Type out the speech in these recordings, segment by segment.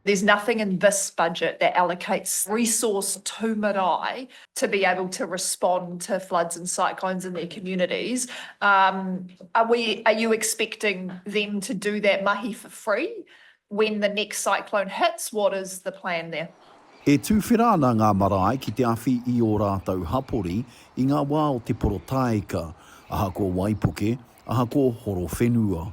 There's nothing in this budget that allocates resource to marae to be able to respond to floods and cyclones in their communities. Are you expecting them to do that mahi for free when the next cyclone hits? What is the plan there? E tuwhera ana ngā marae ki te awhi i ō rātou hapori i ngā wā o te porotaika, ahakoa waipuke, ahakoa horowhenua.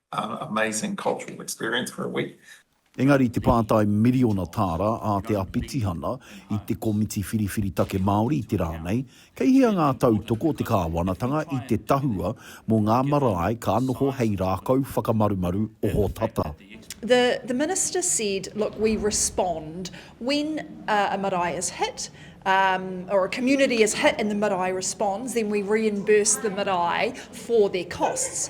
amazing cultural experience for a week. Engari i te pātai miriona tāra a Te Apitihana i te Komiti Whiriwhiri Take Māori i te rā nei, kei hea ngā tautoko o te kāwanatanga i te tahua mō ngā marae ka noho hei rākau whakamarumaru ohotata? The, the Minister said, look, we respond when uh, a marae is hit, um, or a community is hit and the marae responds, then we reimburse the marae for their costs.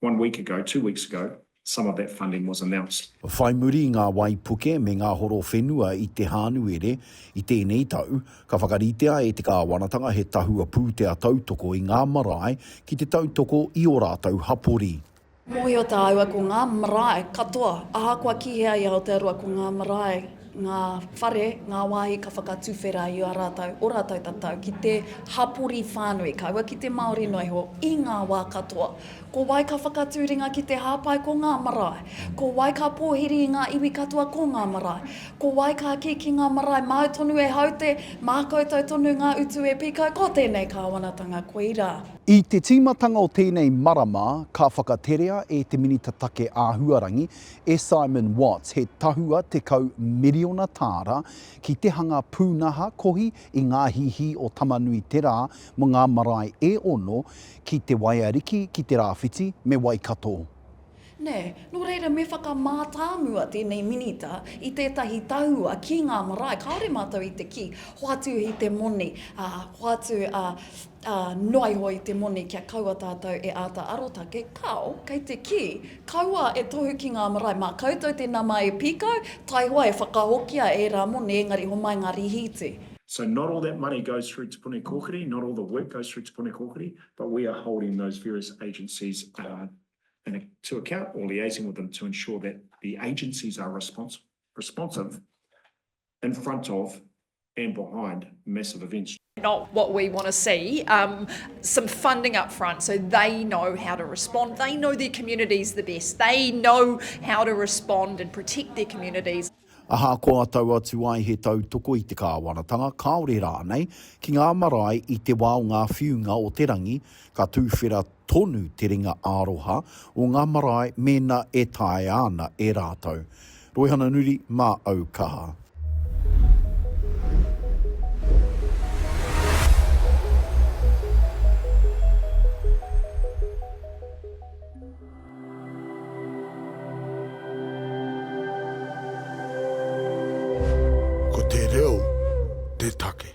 One week ago, two weeks ago, some of that funding was announced. Whai muri i ngā waipuke me ngā horo whenua i Te Hānuere i tēnei tau, ka whakaritea e te Kāwanatanga he tahua pūtea tautoko i ngā marae ki te tautoko i ō rātou hapori. Mōhio tāua ko ngā marae katoa, ahakoa ki hea i Aotearoa, ko ngā marae ngā whare, ngā wāhi ka whakatuwhera i a rātou, o rātou tatau, ki te hapori whānui, kaua ki te Māori noa iho, i ngā wā katoa. Ko wai ka whakatū ringa ki te hāpai, ko ngā marae. Ko wai ka pōhiri i ngā iwi katoa, ko ngā marae. Ko wai ka kī ki ngā marae, māu tonu e haute, mā koutou tonu ngā utu e pīkau, ko tēnei kāwanatanga, koirā. I te tīmatanga o tēnei marama, ka whakaterea e te Minita Take Āhuarangi, e Simon Watts he tahua tekau miriona tāra ki te hanga pūnaha kohi i ngā hihī o Tamanui-te-rā mō ngā marae e ono ki Te Waiariki, ki Te Rāwhiti me Waikato. Nē, nō reira me whakamātāmua tēnei Minita i tētahi tahua ki ngā marae kāore mātou i te kī, hoatu i te moni, ā, hoatu, ā, Ā, noa iho i te moni kia kaua tātou e āta arotake, kāo, kei te kī, Kaua e tohu ki ngā marae mā koutou te nama e pīkau, taihoa e whakahokia ērā moni, engari homai ngā rīhīti. So not all that money goes through Te Puni Kōkiri, not all the work goes through Te Puni Kōkiri, but we are holding those various agencies to account or liaising with them to ensure that the agencies are responsive in front of and behind massive events. not what we want to see, um, some funding up front so they know how to respond. They know their communities the best. They know how to respond and protect their communities. Ahakoa tau atu ai he tautoko i te kāwanatanga, kāore rānei, ki ngā marae i te wā o ngā whiunga o te rangi, ka tūwhera tonu te ringa ā-roha o ngā marae mēnā e taea ana e rātou. Roihana Nuri, Mā au kaha. Ko te reo te take.